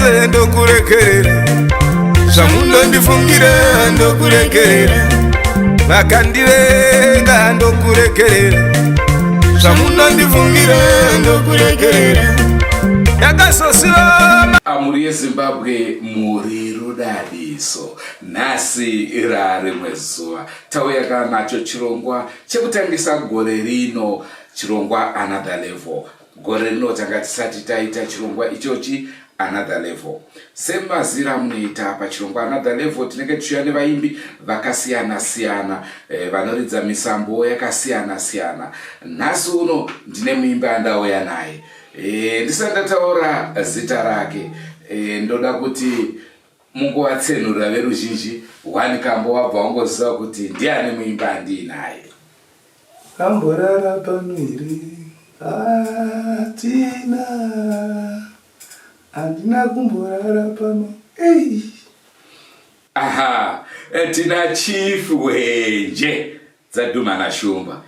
zvose ndokuregerera zvamunondifungira ndokuregerera vakandivenga ndokuregerera zvamunondifungira ndokuregerera ndakazosiroma amuri yezimbabwe muri rudadiso nhasi rarimwe zuva tauya kana nacho chirongwa chekutangisa gore rino chirongwa another level Gore rino tanga tisati taita chirongwa ichochi another level semazira amunoita pachirongwa another level tinenge tichiuya nevaimbi vakasiyana siyana e, vanoridza misambo yakasiyana siyana nhasi uno ndine muimbi andauya naye e, ndisati ndataura zita rake e, ndoda kuti mungovatsenurira veruzhinji wani kambo wabva wangoziva kuti ndiani muimbi andiinaye Amborara pano here? Hatina. Handina kumborara pano. Ei. Aha, eh, tina chief wenje dzadhuma na shumba.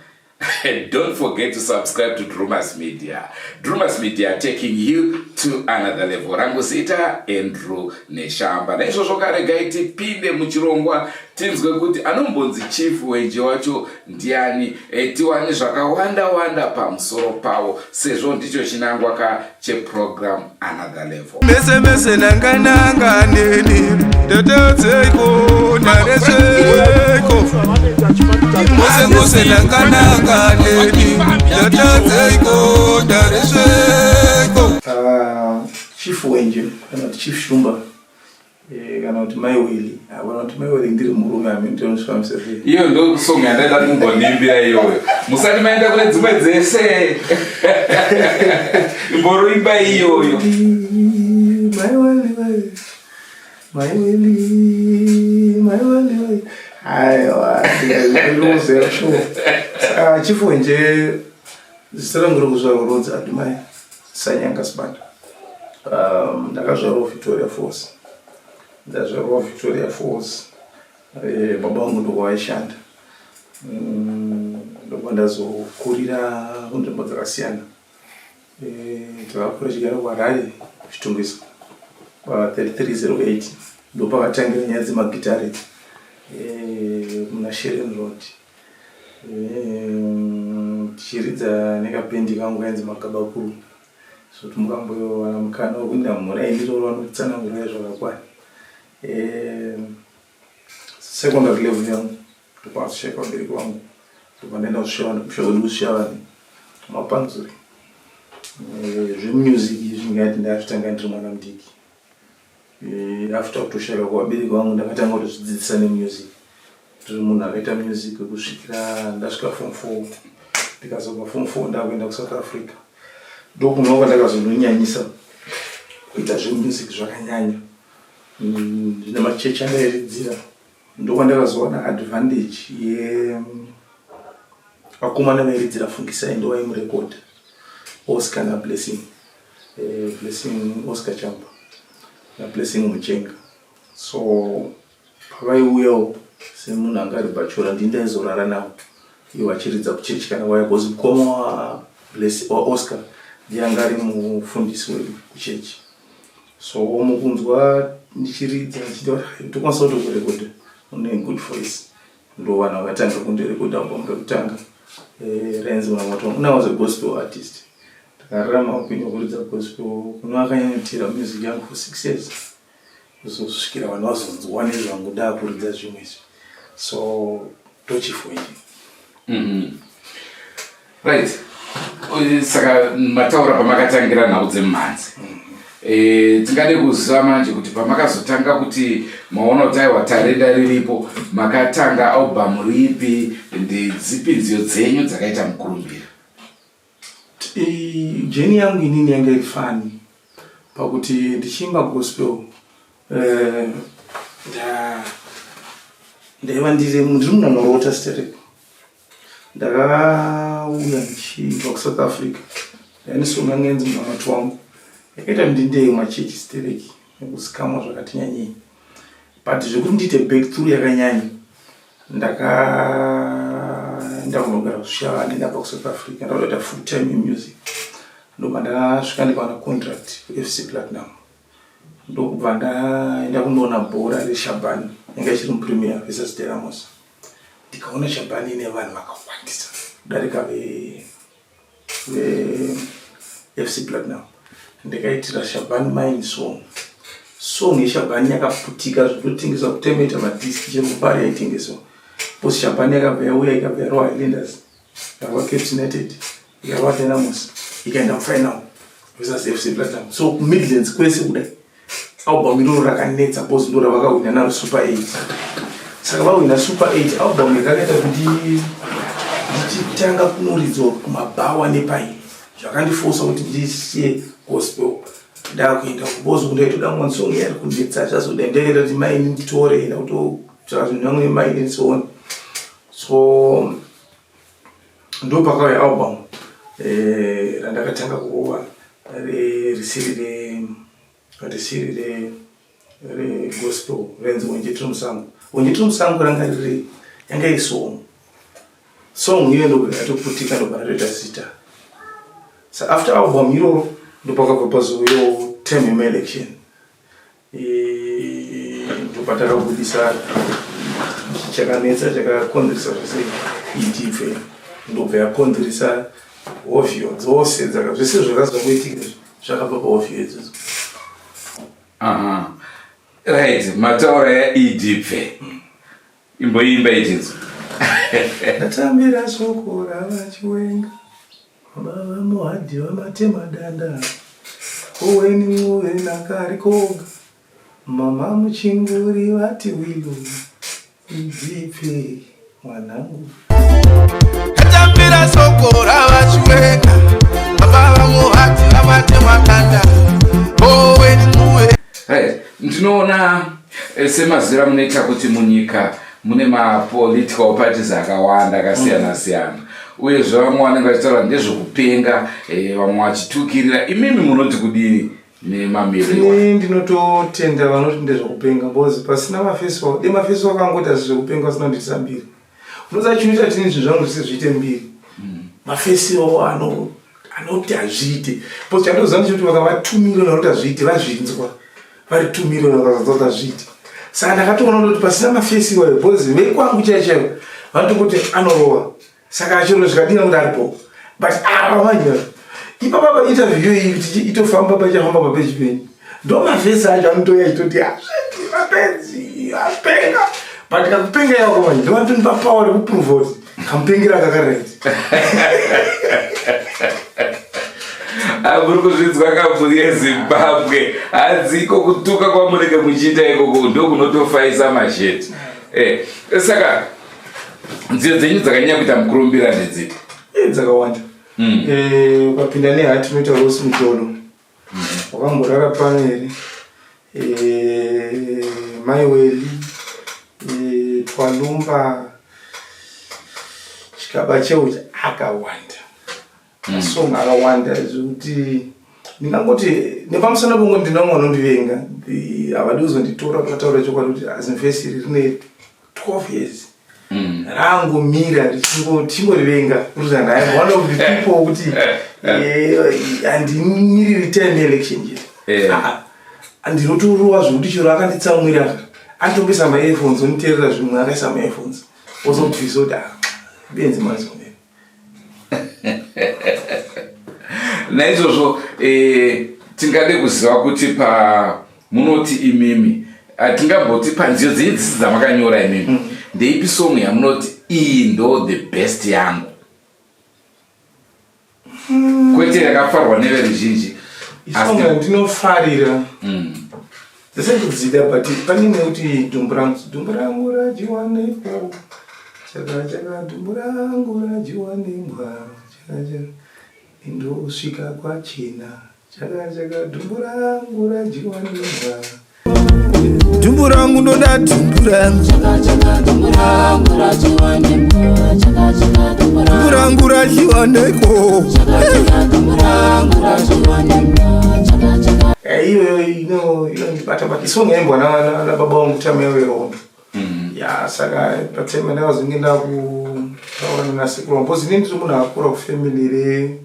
Don't forget to subscribe to Drewmas Media. Drewmas Media taking you to another level. Rangu zita Andrew Neshamba. Naizvozvo karegai tipinde muchirongwa tinzwe kuti anombonzi chief weje wacho ndiani e, tiwane zvakawanda wanda pamusoro pavo sezvo ndicho chinangwa ka cheprogram another level mese mese nangananga neni tetezeiko narezeiko mose mose nangananga neni tetezeiko narezeiko ah, chief wenje kana chief shumba Eh, kana kuti mai wili havana kuti mai wili ndiri murume amintonsvamisa iyo ndo song yandaida kumbonimbira iyoyo musati maenda kune dzimwe dzese imboroimba iyoyo mai wili mai wili mai wili aiwa ndikaiuzesho ah, chifu nje zita rangu rokuzvarwa rodzi adimai Sanyanga Sibanda. Um, ndakazvarwa Victoria Falls. Ndazvarwa Victoria Falls. Eh, baba vangu ndoko vaishanda. Mm, ndobva ndazokurira kunzvimbo dzakasiyana. Eh, takakura chigara kuHarare kuchitungisa. Pa 3308 ndopakatangira nyaya dzemagitare. Eh, muna Sheren Road. Ehm, tichiridza nekapendi kangu kainzi makabakuru so timukambowana mukana wekuinda mhura yendiroro vanokutsanangura zvakakwana ehm, secondary level yangu ndokwakushaya vabereki vangu ndokwandaenda kusvika kusvika kuti kusvika vanhu mapanzuri ehm, zvemusic izvi ndingati ndazvitanga ndiri mwana mudiki after kutoshayika kuvabereki vangu ndakatanga kutozvidzidzisa nemusic tiri munhu akaita music kusvikira ndasvika fom four ndikazobva fom four ndakuenda kusouth africa ndokunova kwandakazondonyanyisa kuita zvemusic zvakanyanya mm, zvine machechi andairidzira ndokwandakazoona advantage yevakomana vairidzira fungisai ndovaimurekodha oskana blessing Eh, Blessing Oscar Chamba na Blessing Muchenga. So pavaiuyawo semunhu anga ari bachora ndini ndaizorara navo ivo vachiridza kuchechi kana vaya bcause mukoma wa Bless- wa Oscar ndiye anga ari mufundisi wedu kuchechi. So mukunzwa ndichiridza ndichitaura tokwanisa kutokurekodha une good voice. ndovana vakatanga kundirekodha album rekutanga eh, renzi mwamoto when i was a gospel artist ndakararama upenyu hwekuridza gospel kuno akanyanyotira music yangu for six years kuzosvikira vanhu vazonzwa nezvangu ndaakuridza zvimwe izvi so tochifoini mm-hmm. right saka mataura pamakatangira nhau dzemhanzi e, tingade kuziva manje kuti pamakazotanga kuti maona kuti aiwa tarenda riripo makatanga album ripi ndidzipi nziyo dzenyu dzakaita mukurumbira e, jeni yangu inini yanga iri fani pakuti ndichiimba gospel eh, ndaiva ndiri munhu anorota stereko ndakauya ndichibva kusouth africa ndainisonga ngenzi munamati wangu yakaita ndindei machechi stereki nekuzikamwa zvakati nyanyei but zvekuti ndiite back through yakanyanya ndakaenda kunogara kushava ndendabva kusouth africa ndaudaita full time imusic ndobva ndasvika ndikawana contract fc platinum ndokubva ndaenda kunoona bhora reshabani yanga ichiri mupremier vesasteramos ndikaona shabhani ine vanhu vakawandisa kudarika vefc platinum ndikaitira shabhani mine song song yeshabhani yakaputika zvinotengeswa kutemeta madisk chero kupari yaitengeswa bcause shabhani yakabva yauya ikabva yarowa hilendas Ndakwa Caps United ikava Dynamos ikaenda kufinal versus FC Platinum so kuMidlands kwese kudai album iroro rakanetsa bcause ndo ravakahwina naro super eight saka vahwina super eight album yakakaita kuti ndichitanga kunoridzwa kumabhawa nepai zvakandifosa kuti ndisiye gospel ndakuenda kubozi kundaitoda mwansong yari kunetsa zvazoda ndaenda kuti maini nditore enda kutotsvaka zvinhu vamwe maini ndisoona so ndopakauya album eh, randakatanga kurova risiri re risiri re regospel renzi wenjetiri musango wenjetiri musango ranga riri yanga iri song song iyo ndokatoputika ndobara toita zita sa after album iroro ndopakabva pazuva yo term yemaelection ndopatakabudisa chakanetsa chakakonzeresa zvese itibve ndobva yakonzeresa hovhiyo dzose dzaka zvese zvakazongoitika zvakabva pahovhiyo idzodzo right mataura yaidibve Imboimba ichinzi ndatambira soko ravachiwenga baba muhadhi vamatema danda koweni move nakari koga mama muchinguri vati wilo idzipe mwanangu ndinoona eh, semazira munoita kuti munyika mune mapolitical parties akawanda akasiyana mm. siyana uyezve vamwe vanenge vachitaura ndezvekupenga eh, vamwe vachitukirira imimi munoti kudii nemamirei ndinototenda vanoti ndezvekupenga bcause pasina mafeso de mafeso akangoti asi zvekupenga asina nditisa mbiri Musa chinhu chatini zvinhu zvangu zvisi zviite mbiri. Mm. Mafesi iwawo ano anoti hazviite. Because chandoziva ndechekuti vakavatumira vanoti hazviite vazvinzwa. Vari tumira vakazanzwa kuti hazviite. Saka ndakatoona kuti pasina mafesi iwayo because vekwangu chaiyo chaiyo vanoti kuti anorova. Saka chero zvikadina kuti aripo. But ava ah, manje. Ipapa pa interview iyi kuti itofamba pachafamba papeji penyu. ndomavhesi acho anotouya achitoti hazviti mapenzi apenga but kakupenga yako manje ndimatoni papower rekuprove kuti kamupengera kakarenzi amuri kuzvinzwa kabvu yezimbabwe hadziko kutuka kwamunenge muchiita ikoko ndokunotofaisa masheti eh, saka nziyo dzenyu dzakanyanya kuita mukurumbira ndedzipi eh, dzakawanda hmm. eh, ukapinda nehati unoita rosi mutolo Wakamborara pano here? Eh, mai Weli, eh, Twalumba, chikaba cheucha akawanda. Mm. Song akawanda zvekuti ndingangoti nepamusana pongo ndina mwana undivenga havadi kuzonditora kuzataura chokwadi kuti azinfesi iri rine 12 years mm. rangu mira richingotimborivenga kuti ndai one of the people kuti handimiri eh, eh, return election yet eh. ah, ah. ah, ndinotorova zvekuti chero akanditsamwira anditongesa maearphones onditerera zvimwe akaisa maearphones ozokuti zvoda benzi mazomera naizvozvo eh, tingade kuziva kuti pamunoti imimi hatingamboti panziyo dzenyu dzisi dzamakanyora imimi mm. ndeipi song yamunoti iyi ndo the best yangu mm. kwete yakafarwa neveruzhinji ndinofarira mm. Zvisakudzida but pane imwe kuti dumbu rangu dumbu rangu radyiwa nepo chaka chaka dumbu rangu radyiwa nembwa chaka chaka indosvika kwachena chaka chaka dumbu rangu radyiwa nembwa dumbu rangu ndoda dumbu rangu dumbu rangu radyiwa nepo chaka chaka dumbu rangu radyiwa nembwa no inondibata but song yaimbwa nababa wangu time yavo yehondo mm. ya saka patime ndakazonge ndakutaura nanasekuru wangu bcause ini ndiri munhu akura kufamily re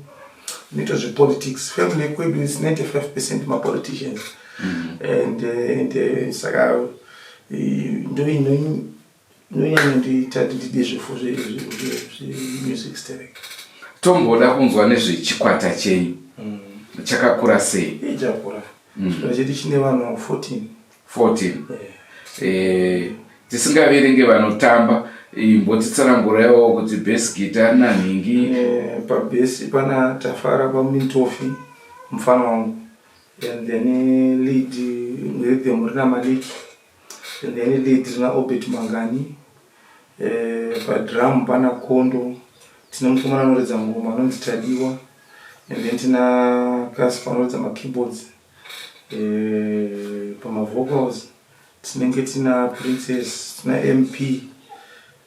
nito zvepolitics family yekwedu is 95 percent mapoliticians mm. and, eh, and eh, saka eh, ndoino inonyanya kutiita kuti tide zvifo zvemusic sterek tomboda kunzwa nezvechikwata chenyu mm. chakakura sei ichakura mm. chikwata chedu chine vanhu 14 14 eh, tisingaverenge vanotamba imbotitsanangurawo kuti base gita rina nhingi eh, pabase pana tafara pamunintofi mufana wangu and then eh, lead rhythm rina maliki And then lead rina Obert Mangani. Eh, padrum pana Kondo. Tine mukomana anoridza ngoma anonzi Tadiwa. And then tina Casper anoridza ma keyboards. Eh, pama vocals tinenge tina Princess, tina MP.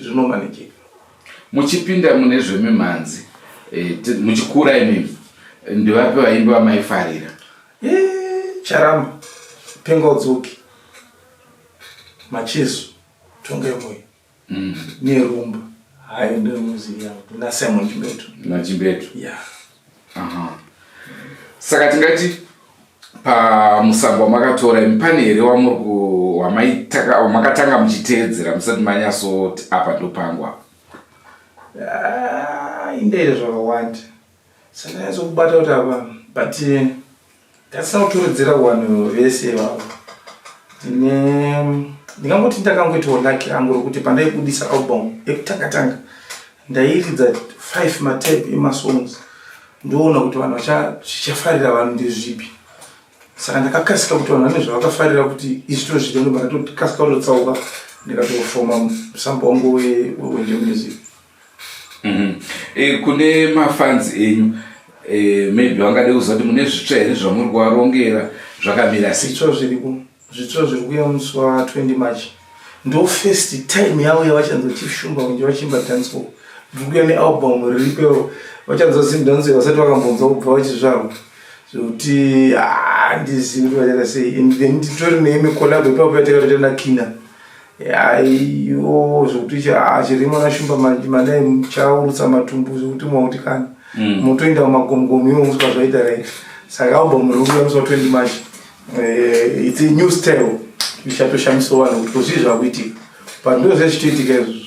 zvinomanejeka muchipinda mune zvemimhanzi eh, muchikura imimi ndivapi vaimbi vamaifarira eh, charamba penga udzoki macheso tongemoyo mm. nerumba hayo ndomuziva nasimon chimbetu nachimbetu yeah. saka tingati pamusambo wamakatora imi pane here wamakatanga muchiteedzera musati manyasoti apa ndopangu apa ah, indeire zvakawanda sandanyatso kubata kuti apa but eh, Ndasauturudzira vanhu vese ivavo ndingangoti ndakangoitawo laki rangu rokuti pandaibudisa album yekutanga tanga ndairidza five matape emasongs ndoona kuti vanhu zvichafarira vanhu ndezvipi saka ndakakasika kuti vanhu vane zvavakafarira kuti izvi tozvida ndoba ndatotikasika kutotsauka ndikatofoma musamba wangu wenje music Mhm. Eh, kune mafans enyu eh, maybe vangade kuziva kuti mune zvitsva here zvamuri kuvarongera zvakamira sei zvitsva zviriko zvitsva zviri kuya musi wa 20 march ndo first time yavo yavachanzwa chief shumba kunge vachiimba dancehall ndiri kuya nealbum riripero vachanzwa zim dancehall vasati vakambonzwa kubva vachizvarwa zvekuti ah, handizivi kuti vachata sei and then titori neimwe collab ipapo yatakatoita nakina aiyo zvokuti chirimo ah, nashumba manai muchaurutsa matumbu zvokuti mwakuti kana mm. motoenda mumagomugomu iwo muswa zvaita right saka album rikuuya musi wa 20 march eh, its new style ichatoshamiswa vanhu kuti kozvii zvakuitika but ndozvazvitoitika izvozvo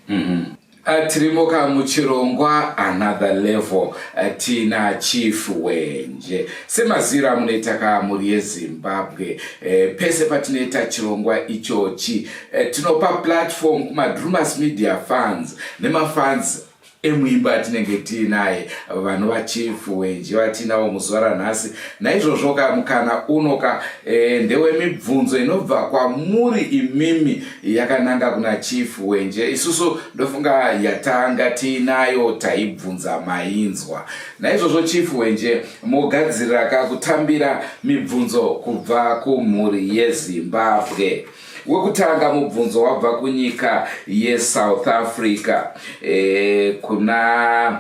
mm-hmm. Uh, tirimoka muchirongwa another level uh, tina chief wenje semaziro amunoita ka mhuri yezimbabwe uh, pese patinoita chirongwa ichochi uh, tinopa platform kumadrumas media fans nemafans emuimba atinenge tiinaye vanova chief wenje vatiinawo muzuva ranhasi naizvozvoka mukana unoka uh, ndewemibvunzo inobva kwamuri imimi yakananga kuna chief wenje isusu ndofunga yatanga tiinayo taibvunza mainzwa naizvozvo chief wenje mogadziriraka kutambira mibvunzo kubva kumhuri yezimbabwe wekutanga mubvunzo wabva kunyika yesouth africa e, kuna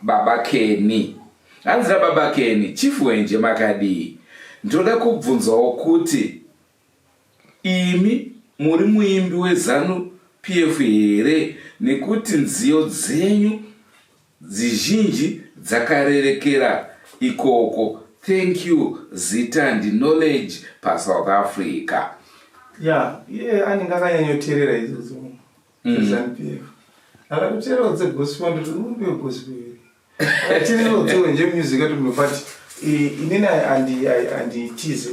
baba keni hanzi nababa keni chief wenje makadii ndoda kubvunzawo kuti Imi muri muimbi weZanu PF here nekuti nziyo dzenyu dzizhinji dzakarerekera ikoko thank you zita ndi knowledge pasouth africa ya iye anenge akanyanyoterera idzo dzimwe mm. zanu pf akatotererawo dzegospel ndoti uyu ndewegospel chiri zvodziwe nje music yedu but inini anditize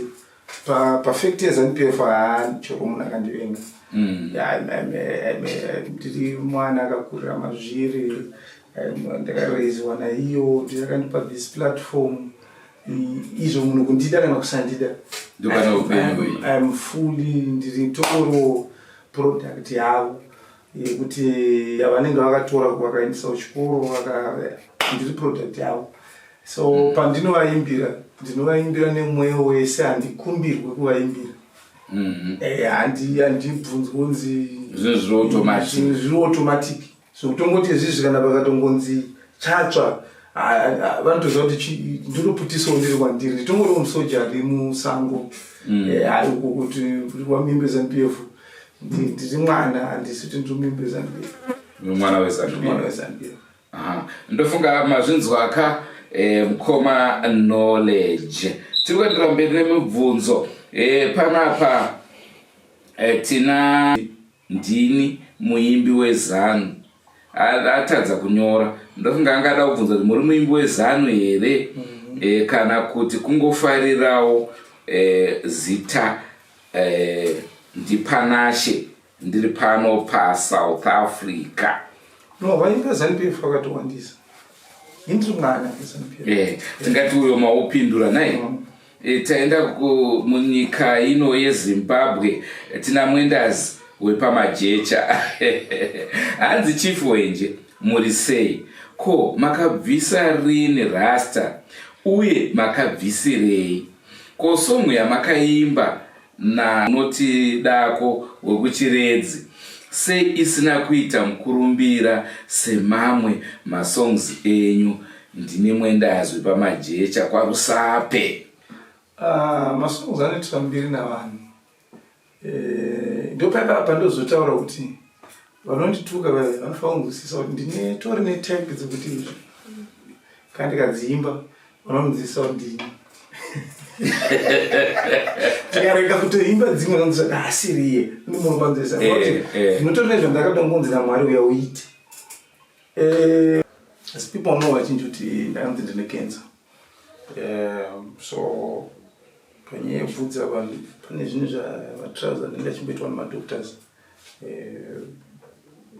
pafacti yezanupf haani choko munhu akandivenga mm. ndiri mwana akakurira mazviri ndakaraisiwa naiyo ndiakandipa this platform izvo munhu kundida kana kusandida ndokana upenyu iam fully ndiri toro product yavo yekuti yavanenge vakatora vakaendesa kuchikoro ndiri product yavo so mm. pandinovaimbira ndinovaimbira nemweyo wese handikumbirwe kuvaimbira mm-hmm. eh, handibvunzi kunzi zviri automatic so kutongoti izvizvi kana pakatongonzi chatsva vanotoziva kuti ndinoputisawo ndiri kwandiri nditongoriwo musoja ari musango mm. eh, kuti wamimbe zanu pf ndiri mwana handisi kuti ndiri mumbi wezanubiro mwana wezanubiro ndofunga mazvinzwa ka eh, mukoma knowledge tiri kuendera mberi nemibvunzo eh, panapa eh, tina ndini muimbi wezanu atadza kunyora ndofunga angada kubvunza kuti muri muimbi wezanu here mm -hmm. e, kana kuti kungofarirawo e, zita Eh, ndipanashe ndiri pano pasouth africa no vaimba zanupf vakatowandisa indiri mwana zanupf eh, tingati uyo maupindura nai mm. eh, taenda munyika ino yezimbabwe tina mwendazi wepamajecha hanzi chief wenje muri sei ko makabvisa rini rasta uye makabvisirei Ko song yamakaimba nanoti dako wekuchiredzi sei isina kuita mukurumbira semamwe masongs enyu ndine mwendazwi pamajecha kwarusape ah, masongs anoitwa mbiri navanhu Eh, ndopaka apa ndozotaura kuti vanondituka vaya vanofanira kunzwisisa kuti ndine tori netype dzekuti izvi kana ndikadziimba vanonzwisisa kuti ndini tikareka kutoimba dzimwe vanonzwisisa kuti haasiriye ndimunhu panzwisisa kuti eh, eh. ndinotori nezvandakada kungonzi namwari uya uite asi people know vachinji kuti ndakanzi ndine cancer Um, so panyaya yekuvhudza vanhu pane zvinhu zvamatrauser anenge achimboitwa nemadoctors eh,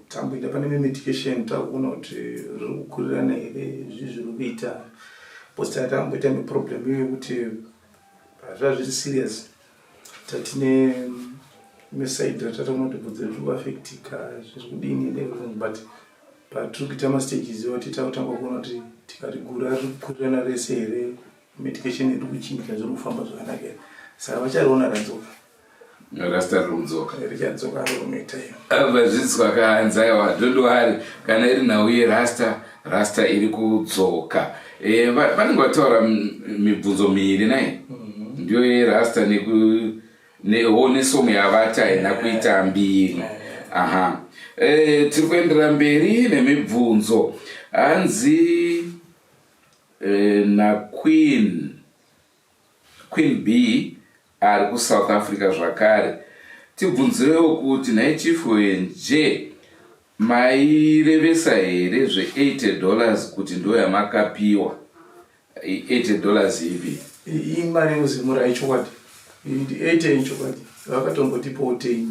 tamboita pane memedication takuona kuti zviri kukurirana here zvi zviri kuita bcause tatamboita neproblem iyo yekuti hazvazviri serious tatine mesaid ratataura kuti bvudzi riri kuafectika zviri kudini neverong but patiri kuita mastages iwo tiita kutanga kuona kuti tikarigura riri kukurirana rese here medication iri kuchinja zviri kufamba zvakanaka here saka vachariona radzoka rasta riri kudzoka richadzoka riri kunoita iyo vadzidziswa kaanzaiwa dodowari kana iri nhau yerasta rasta iri kudzoka eh, vanenge vataura mibvunzo miiri nai mhm. ndiyo yerasta newo nesomo yavati haina kuita mbiri aha eh, tiri kuendera mberi nemibvunzo hanzi eh, naqueen Queen Bee ari kuSouth Africa zvakare. Tibvunzirewo kuti nhai Chief Hwenje mairevesa here zve 80 dollars kuti ndoyamakapiwa 80 dollars ipi? Imari yozimura ichokwadi. 80 ichokwadi. Vakatombotipowo 10.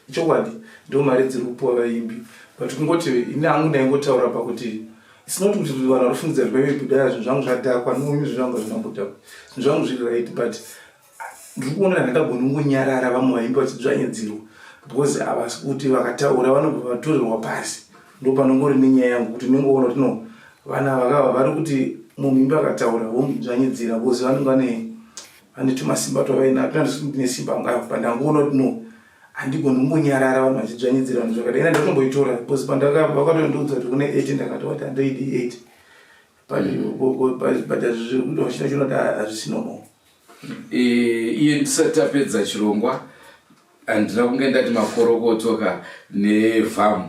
ichokwadi ndo mari dziri kupuwa vaimbi but kungoti ini angu ndaingotaura pakuti sinot kuti vanhu varifungidza zvimaive kudaya zvinhu zvangu zvadhakwa nomi zvinhu zvangu hazvinambodhakwa zvinhu zvangu zviri right but ndiri kuona kana ndagoni kungonyarara vamwe vaimbi vachidzvanyadzirwa because havasi kuti vakataura vanobva vatorerwa pasi ndo panongori nenyaya yangu kuti ndinongoona kuti no vana vakava vari kuti mumimbi akataura vomudzvanyidzira because vanenge vane Handiti masimba twavainayo tinandisikuti nesimba angu ayo pandangoona kuti no handigoni kungonyarara vanhu vachidzvanyidzira vanhu zvakadai ina ndatomboitora bcause pandavakatondiudza kuti kune eight ndakati wati handoidi eight but zviri kuita vachina chinoda hazvisino mo eh, iye ndisati tapedza chirongwa handina kunge ndati makorokotoka nevhamu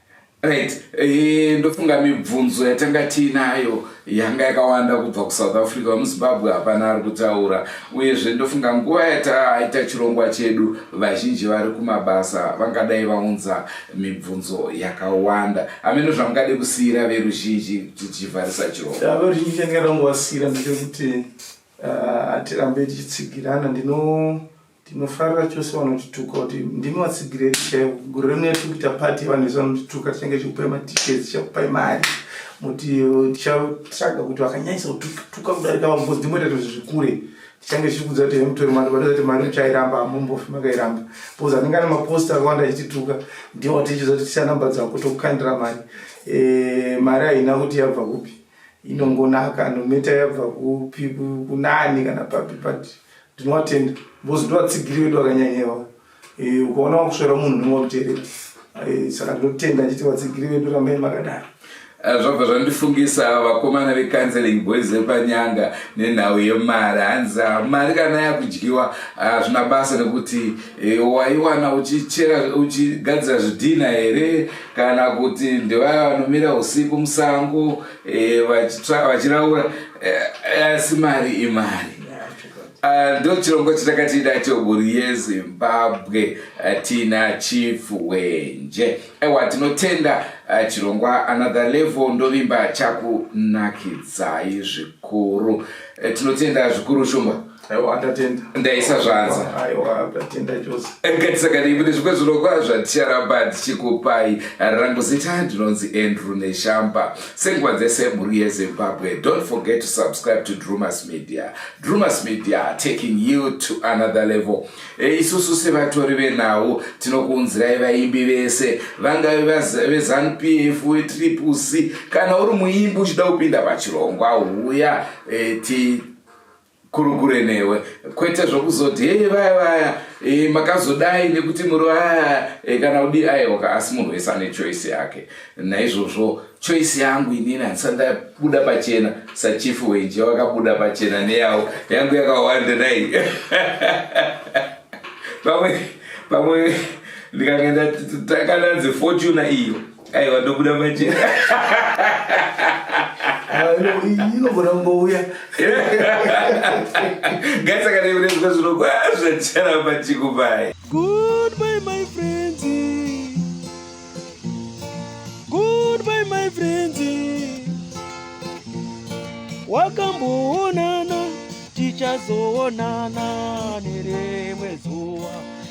Right. E, ndofunga mibvunzo yatanga tiinayo yanga yakawanda kubva kusouth africa vemuzimbabwe hapana ari kutaura uyezve ndofunga nguva yataaita chirongwa chedu vazhinji vari kumabasa vangadai vaunza mibvunzo yakawanda hameno zvamungade kusiyira veruzhinji tichivharisa chirongoveruzhinji chandingadangovasiyira ndechekuti ah, hatirambe tichitsigirana ndino Tinofarira chose vanotituka kuti ndimi vatsigiri edu chaivo. Gore rino yatiri kuita pati yevanhu vese vanotituka tichange tichikupai matickets, tichakupai mari muti tichatsvaga kuti vakanyanyisa kutuka kudarika vamwe bcoz ndimoita tozvi zvikure tichange tichikudza kuti hemutori mari vanoza kuti mari uchairamba hamumbofi makairamba bcoz anenge ane maposta akawanda achitituka ndiwo watichiudza kuti tisa namba dzako tokukandira mari eh, mari haina kuti yabva kupi inongonaka nometa yabva kupi kunani kana papi pati Ndinowatenda because ndovatsigiri vedu vakanyanyewa. Eh, ukaona wakusvera munhu unenge wakuteerera. Eh, saka ndinotenda ndichiti vatsigiri vedu rambai makadaro. Eh, zvabva zvandifungisa vakomana vecounseling boys vepanyanga nenhau yemari hanzi ah, mari kana yakudyiwa hazvina ah, basa nekuti eh, waiwana uchichera uchigadzira zvidhina here kana kuti ndevaya vanomira usiku musango eh, vachiraura asi mari imari Ah, ndo chirongwa chatakati nacho mhuri yezimbabwe ah, tina chief wenje ewa tinotenda ah, chirongwa another level ndovimba chakunakidzai zvikuru eh, tinotenda zvikuru shumba ndaisa zvanzangatisakadaibude zvimwe zvirongwa zvaticharamba tichikupai rangu zita ndinonzi andrew neshamba Senguva dzese mhuri yeZimbabwe, don't forget to subscribe to Drewmas Media. Drewmas Media taking you to another level. E, isusu sevatori venhau tinokuunzirai vaimbi vese vangave veZanupf veTriple C kana uri muimbi uchida kupinda pachirongwa huya e, ti kurukure newe kwete zvokuzoti hei vaya vaya e, makazodai nekuti muri vaya e, kana udi aiwaka asi munhu wese ane choice yake naizvozvo choice yangu inini handisa ndabuda pachena sachifu wenje wakabuda pachena neyavo yangu yakawanda nai pamwe pamwe ndikange ndakananzi fortuna iyo aiwa ndobuda pachena inogona kungouya gaisaka nevinezvika zvinokwaazvachara pachiko paye goodbye my friends goodbye my friends wakamboonana tichazoonana nerimwe zuva